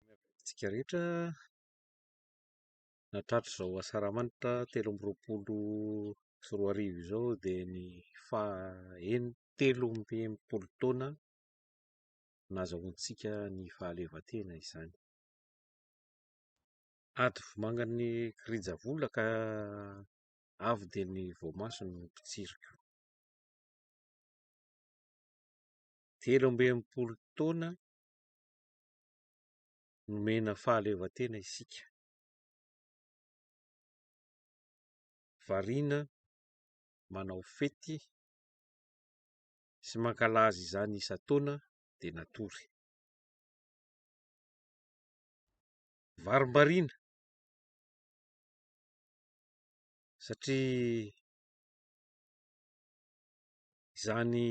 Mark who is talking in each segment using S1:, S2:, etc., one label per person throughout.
S1: Miarahaba antsika rehetra nahatratra izao asaramanitra telo amby roapolo sy roa arivo izao dia ny faha enina telo amby enimpolo taona nahazahoantsika ny fahaleovantena izany. Ady voamangan'ny kirinjavola ka avo dia ny voamaso no mitsiriko. Telo amby enimpolo taona nomena fahaleovantena isika. Variana manao fety sy mankalaza izany isan-taona dia natory. Varimbariana satria izany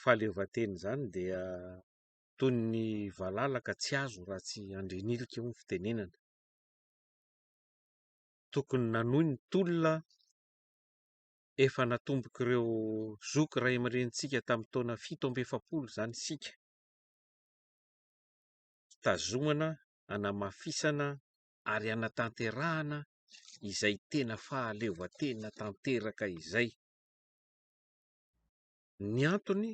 S1: fahaleovantena izany dia toy ny valala ka tsy azo raha tsy handrinilika hoy ny fitenenana. Tokony nanohy ny tolona efa natombok'ireo zoky ray aman-drenintsika tamin'ny taona fito amby efapolo izany isika, hitazomana, hanamafisana ary hanatanterahana izay tena fahaleovantena tanteraka izay. Ny antony?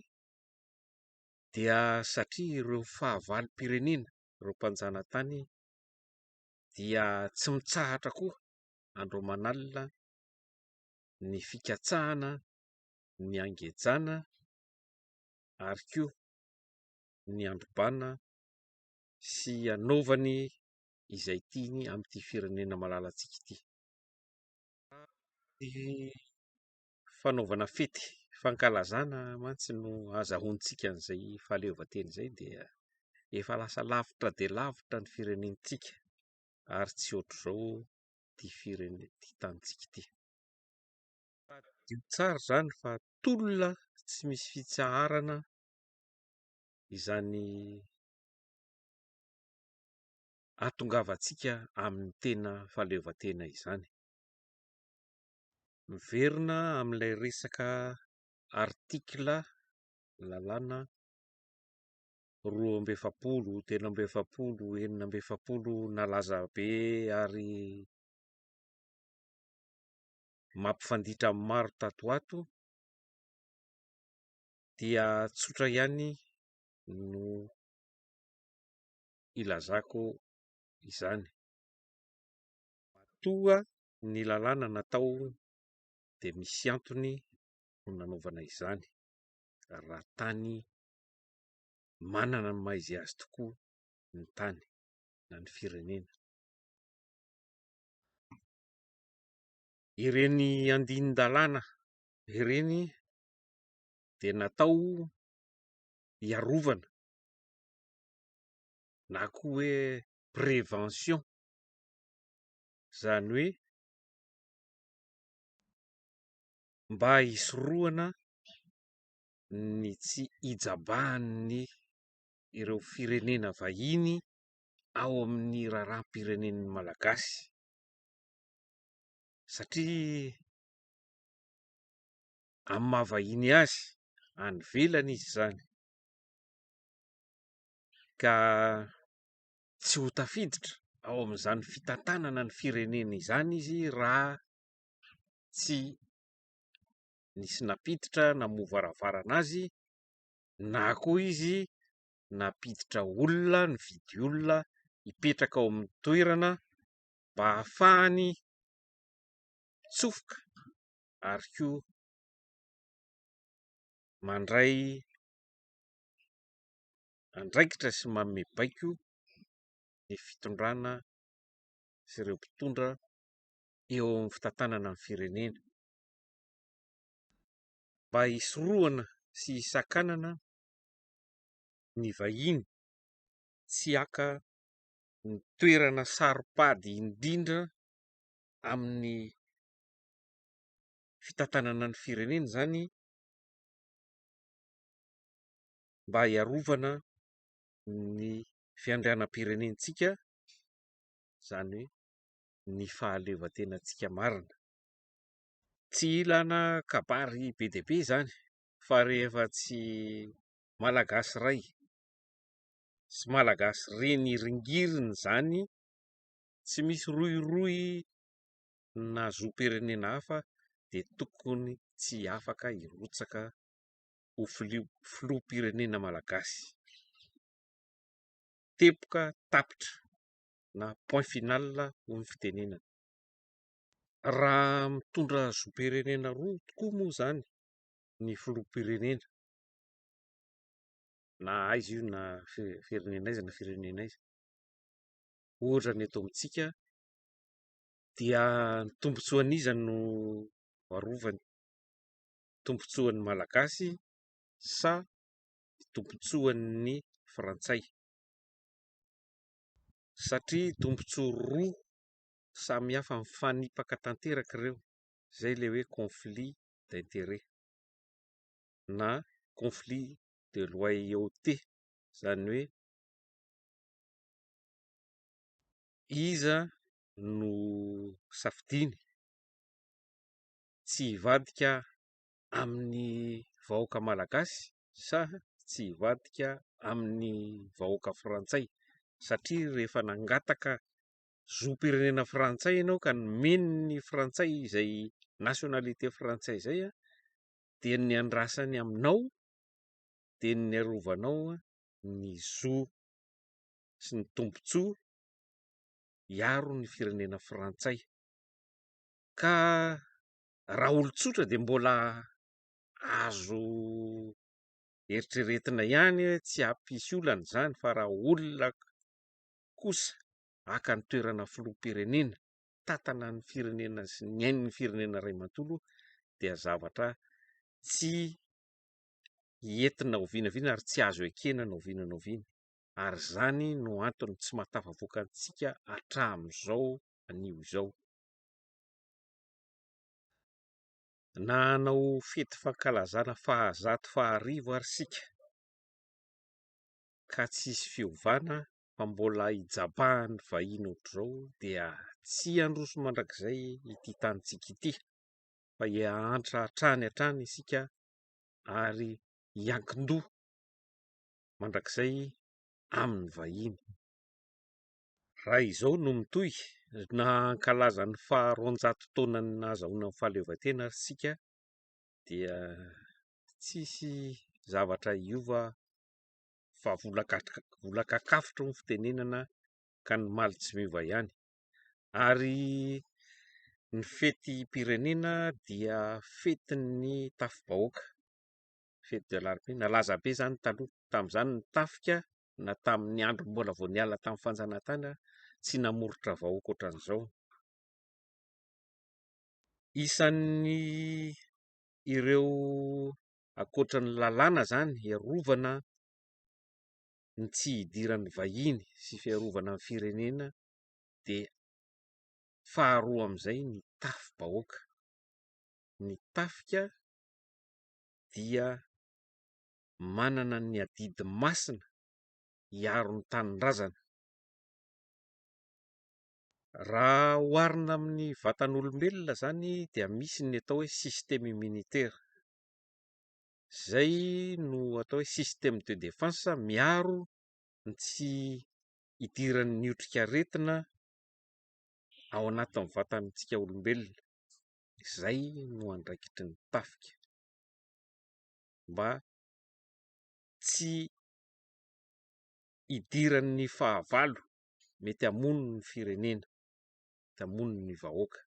S1: dia satria ireo fahavalom-pirenena ireo mpanjanatany dia tsy mitsahatra koa andro aman'alina ny fikatsahana ny hangejana ary koa ny handrobana sy hanaovany izay tiany amin'ity firenena malalantsika ity. fanaovana fety fankalazana mantsy no ahazahoantsika an'izay fahaleovantena izay dia efa lasa lavitra dia lavitra ny firenentsika ary tsy ohatr'izao ity firene- ity tanintsika ity. Tadidio tsara izany fa tolona tsy misy fitsaharana izany hahatongavantsika amin'ny tena fahaleovantena izany. Miverina amin'ilay resaka article lalàna roa amby efapolo, telo amby efapolo, enina amby efapolo nalaza be ary mampifanditra amin'ny maro tato ho ato dia tsotra ihany no ilazako izany. Matoa ny lalàna natao dia misy antony no nanaovana izany raha tany manana ny maha izy azy tokoa ny tany na ny firenena. Ireny andinin-dalàna ireny dia natao hiarovana na koa hoe prévention izany hoe mba hisorohana ny tsy hijabahan'ny ireo firenena vahiny ao amin'ny raharaham-pirenen'ny Malagasy satria amin'ny maha vahiny azy any ivelany izy izany ka tsy ho tafiditra ao amin'izany fitantanana ny firenena izany izy raha tsy nisy nampiditra namoha varavarana azy na koa izy nampiditra olona nividy olona hipetraka ao amin'ny toerana mba hahafahany mitsofoka ary koa mandray andraikitra sy manome baiko ny fitondrana sy ireo mpitondra eo amin'ny fitantanana ny firenena mba hisorohana sy hisakanana ny vahiny tsy haka ny toerana saropady indrindra amin'ny fitantanana ny firenena izany mba hiarovana ny fiandrianam-pirenentsika, izany hoe ny fahaleovantenantsika marina. Tsy ilana kabary be dia be izany fa rehefa tsy Malagasy iray sy Malagasy reny ringiriny izany, tsy misy rohirohy na zom-pirenena hafa dia tokony tsy afaka hirotsaka. ho filoham-pirenena malagasy. Teboka tapitra na point final hoy ny fitenenana. Raha mitondra zom-pirenena roa tokoa moa izany ny filoham-pirenena na aiza io na firenena aiza na firenena aiza ohatra ny eto amintsika dia ny tombontsoan'iza no arovany ? tombontsoan'ny Malagasy sa tombontsoan'ny Frantsay? Satria tombontsoa roa samy hafa mifanipaka tanteraka ireo, izay ilay hoe conflit d'intérêt na conflit de loyauté, izany hoe iza no safidiany tsy hivadika amin'ny vahoaka malagasy sa tsy hivadika amin'ny vahoaka frantsay satria rehefa nangataka zom-pirenena frantsay ianao ka nomeny ny frantsay izay nationalité frantsay izay dia ny andrasany aminao dia ny arovanao ny zo sy ny tombotsoa hiaro ny firenena frantsay. ka raha olon-tsotra dia mbola azo eritreretina ihany hoe tsy hampisy olana izany fa raha olona kosa haka ny toerana filoham-pirenena, hitantana ny firenena sy ny ain'ny firenena iray manontolo dia zavatra tsy entina oviana oviana ary tsy azo ekena na oviana na oviana ary izany no antony tsy mahatafavoaka antsika hatramin'izao anio izao. Na hanao fety fankalazana fahazato faharivo ary isika ka tsy hisy fiovana fa mbola hijabahan'ny vahiny ohatr'izao dia tsy handroso mandrakizay ity tanintsika ity fa hihahantra hatrany hatrany isika ary hiankin-doha mandrakizay amin'ny vahiny. Raha izao no mitohy, na hankalaza ny faha roanjato taonan'ny nahazahoana ny fahaleovantena ary isika dia tsisy zavatra hiova fa vola vola kakafotry ny fitenenana ka ny maly tsy miova ihany ary ny fetim-pirenena dia fetin'ny tafi-bahoaka, fety de la nalaza be izany taloha, tamin'izany ny tafika na tamin'ny andro mbola vao niala tamin'ny fanjanahantany ary tsy namoritra vahoaka ohatran'izao. Isan'ny ireo ankoatra ny lalàna izany hiarovana ny tsy hidiran'ny vahiny sy fiarovana ny firenena dia faharoa amin'izay ny tafi-bahoaka, ny tafika dia manana ny adidy masina hiaro ny tanindrazana. Raha oharina amin'ny vatan'olombelona izany dia misy ny atao hoe système immunitaire, izay no atao hoe système de défense miaro ny tsy hidiran'ny otrikaretina ao anatin'ny vatantsika olombelona, izay no andraikitry ny tafika. mba tsy hidiran'ny fahavalo mety hamono ny firenena, mety hamono ny vahoaka.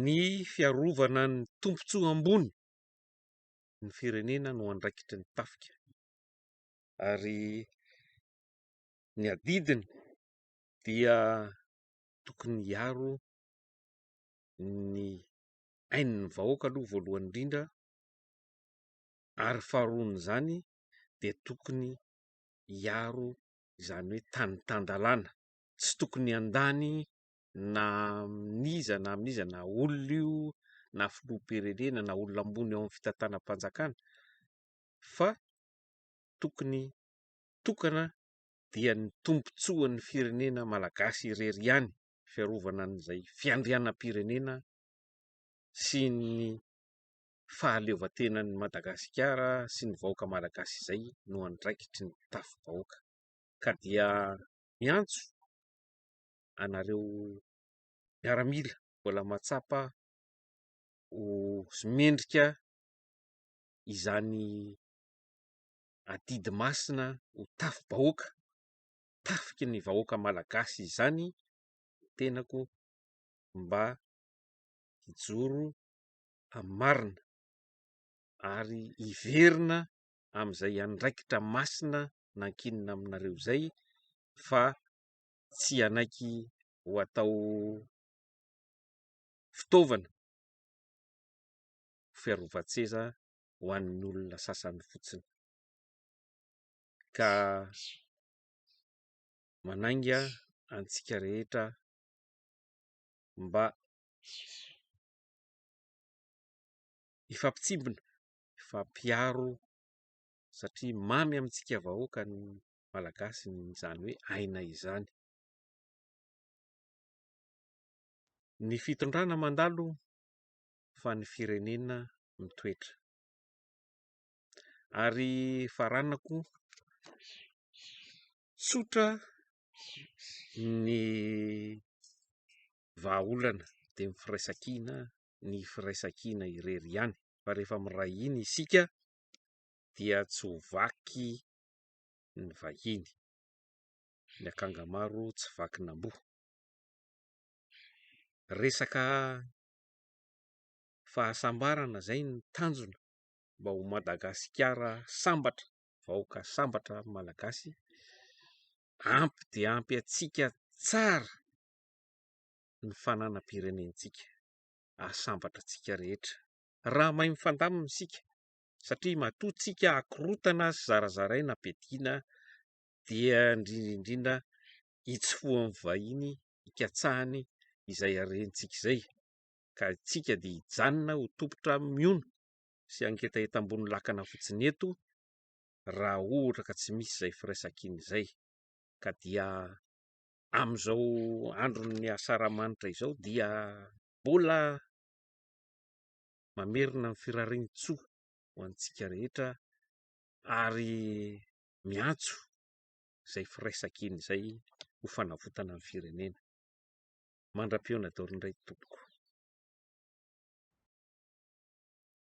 S1: Ny fiarovana ny tombontsoa ambony ny firenena no andraikitry ny tafika ary ny adidiny dia tokony hiaro ny. ain'ny vahoaka aloha voalohany indrindra ary faharoan'izany dia tokony hiaro izany hoe tany tan-dalàna, tsy tokony handany na amin'iza na amin'iza na olona io na filoham-pirenena na olona ambony ao amin'ny fitantanam-panjakana fa tokony tokana dia ny tombontsoan'ny firenena malagasy irery ihany fiarovana an'izay fiandrianam-pirenena sy ny fahaleovantenan'i Madagasikara sy ny vahoaka malagasy izay no andraikitry ny tafi-bahoaka ka dia miantso anareo miaramila mbola mahatsapa ho mendrika izany adidy masina ho tafi-bahoaka, tafiky ny vahoaka malagasy izany ny tenako. mba hijoro amin'ny marina ary hiverina amin'izay andraikitra masina nankinina aminareo izay fa tsy hanaiky ho atao fitaovana fiarovan-tseza ho an'ny olona sasany fotsiny ka manainga antsika rehetra. mba hifampitsimbina, hifampiaro satria mamy amintsika vahoaka ny Malagasy izany hoe aina izany. Ny fitondrana mandalo fa ny firenena mitoetra. Ary faranako, tsotra Ny vahaolana dia ny firaisankina, ny firaisankina irery ihany fa rehefa miray hina isika dia tsy ho vaky ny vahiny, ny akanga maro tsy vakin'amboa, resaka fahasambarana izay no tanjona mba ho Madagasikara sambatra. vahoaka sambatra ny malagasy ampy dia ampy antsika tsara ny fananam-pirenentsika ahasambatra antsika rehetra raha mahay mifandamina isika satria matoa tsika akorotana sy zarazaraina bedina dia indrindrindrindra itsy fohan'ny vahiny ikatsahany izay arentsika izay ka antsika dia hijanona ho tompon-trano mihono sy hangetaheta ambony lakana fotsiny eto raha ohatra ka tsy misy izay firaisankina izay ka dia amin'izao andron'ny Asaramanitra izao dia mbola mamerina ny firarian-tsoa ho antsika rehetra ary miantso izay firaisankina izay ho fanavotana ny firenena. Mandra-pihaona daholo indray tompoko.